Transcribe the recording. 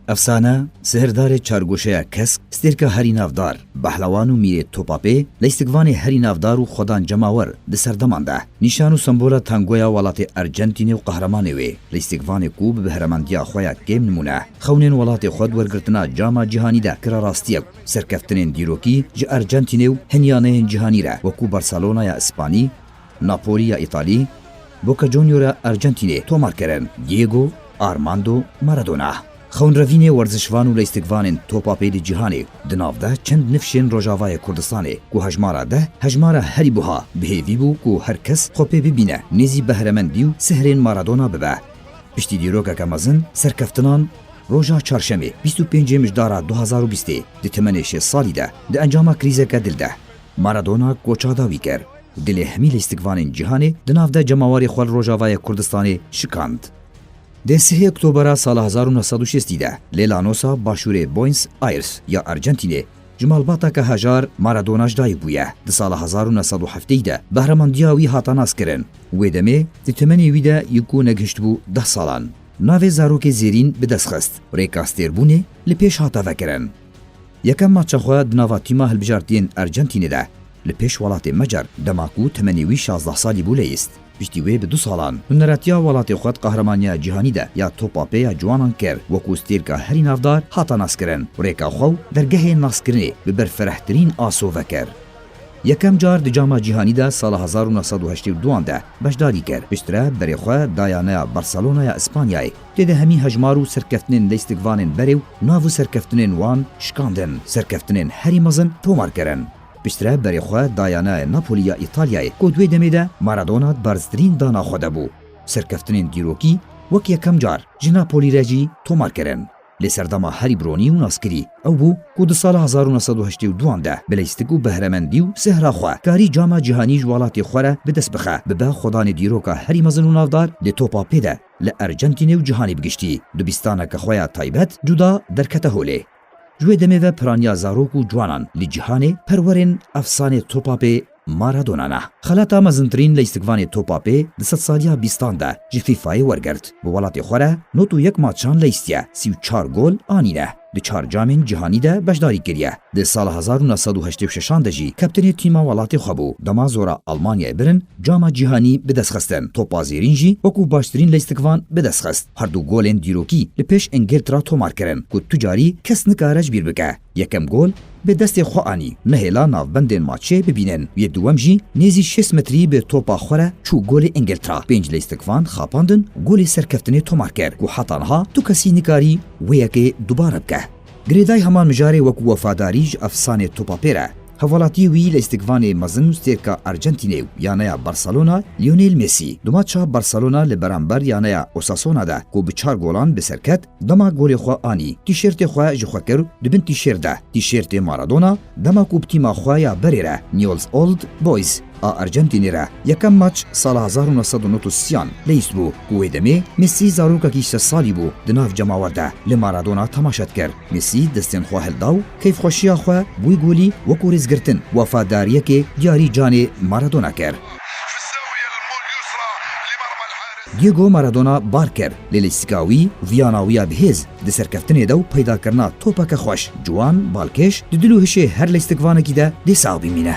Efsane, Sihirdarê Çargoşeya Kesk, stêrka herî navdar, Behlewan û Mîrê Topapê, lîstikvanê herî navdar û xwedan cemawer di serdeman de. Nîşan û sembola tangoya welatê Ercentînê û qehremanê wê, lîstikvanê ku bi bihremendiya xwe ya kêm nimûne. Xewnên welatê xwe di wergirtina Cama Cîhanî de kira rastiyek û serkeftinên dîrokî ji Ercentînê û hin yaneyên cîhanî re wekû Barcelona ya Îspanî, Napoli ya Îtalî, Boca Junior ya Ercentînê tomar kirin. Diego Armando Maradona, xewnrevînê werzişvan û leystikvanên topa pê di cîhanê di nav de çend nifşên Rojavayê Kurdistanê ku hejmara deh hejmara herî buha bi hêvî bû ku her kes xwe pê bibîne nêzî behremendî û sihrên Maradona bibe. Piştî dîrokeke mezin serkeftinan roja Çarşemê bîst û pêncê mijdara du hezar û bîstê di temenê şêst salî de di encama krîzeke dil de Maradona koça dawî kir û dilê hemî lîstikvanên cîhanê di nav de cemawarê xwe li Rojavayê Kurdistanê şikand. Dê sihê Oktobera sala hezar û neh sed û şêstî de lê Lanosa, Başûrê Boyns Ayrs, ya Ercentînê Ji malbata ke hejar Maradona ji dayik bûye. Di sala hezar û neh sed û hefteyî de behremandiya wî hata naskirin. Wê demê di temenê wî de yê ku negihiştibû deh salan navê zarokê Zêrîn bi dest xist. Rêka stêrbûnê li pêş hata vekirin. Yekem maça xwe di nava tîma hilbijartiyên Ercentînê de Li pêş welatê Macar dema ku temenê wî şazdeh salî bû leyîst. Piştî wê bi du salan huneretiya welatê xwe di Qahramaniya Cîhanî de ya Topa Pê ya Ciwanan kir. Wekû stêrka herî navdar hata naskirin û rêka xwe û dergehên naskirinê bi berfirehtirîn asove kir. Yekem car di Cama Cîhanî de sala hezar û neh sed û heştê û duan de beşdarî kir. Piştre berê xwe da yaneya Barcelona ya Îspanyayê. Tê de hemî hejmar û serkeftinên leystikvanên berê û nav û serkeftinên wan şikandin. Serkeftinên herî mezin tomar kirin. Piştre berê xwe daya nayê Napoli ya Îtalyayê ku di wê demê de Maradona di barztirîn dana xwe de bû. Serkeftinên dîrokî wek yekem car ji Napoli re jî tomar kirin. Lê serdema herî bi ronî û naskirî ew bû ku di sala hezar û neh sed û heştê û duan de bi lîstik û behremendî û sihra xwe karî cama cîhanî ji welatê xwe re bi dest bixe bibe xwedanê dîroka herî mezin û navdar lê topa pê de li Ercentînê û cîhanê bi giştî di bîstaneke xwe ya taybet cuda derkete holê. Ji wê demê ve piraniya zarok û ciwanan li cîhanê perwerên efsanê Topapê Maradona ne. Xelata mezintirîn lîstikvanê Topapê di sedsaliya bîstan de ji FIFA'yê wergirt. Bi welatê xwe re nod û yek maçan lîstiye, sî û çar gol anîne. Di çar camên cîhanî de beşdarî kiriye. Di sala hezar û neh sed û heştê û şeşan de jî kaptênê tîma welatê xwe bû. Dema zora Almanyayê birin cama cîhanî bi dest xistin, Topa Zêrîn jî wekû baştirîn lîstikvan bi dest xist. Her du golên dîrokî li pêş Îngiltra tomar kirin ku tu carî kes nikare ji bîr bike. Yekem gol bi destê xwe anî, nehêla navbendên maçê bibînin. Yê dûwem jî nêzî şêst metrî bi topa xwe re çû golê Îngiltra. Pênc lîstik van xapandin, golê serkeftinê tomar kir ku heta niha du kesî nikarî wê yekê dubare bike. Girêdayî hema mijarê wekû wefadarî ji efsanê topa pêr e. Hevwelatiyê wî li îstikvanê mezin û stêrka Ercentînê û yaneya Barcelona Lionel Messi. Du maça Barcelona li beramber yaneya Osasona de ku bi çar golan bi ser ket, dema golê xwe anî, tîşêrtê xwe ji xwe kir di bin tîşêrt de, tîşêrtê Maradona, Dema ku bi tîma xwe ya berê re Newell's Old Boys a Arjentînê re yekem maç sala hezar û neh sed û nod û siyan leyîstbû ku wê demê Mesî zarokekî sed salî bû di nav cemawer de li Maradona temaşe dikir. Mesî destên xwe hilda û keyfxweşiya xwe bûy golî wekû rêzgirtin wefadariyekê diyarî canê Maradona kir. Diego Maradona bar kir, lê li îstika wî viyana wî ya bi hêz, di serkeftinê de û peydakirina topeke xweş, ciwan, balkêş, di dil û hişê her lîstikvanekî de dê sax bimîne.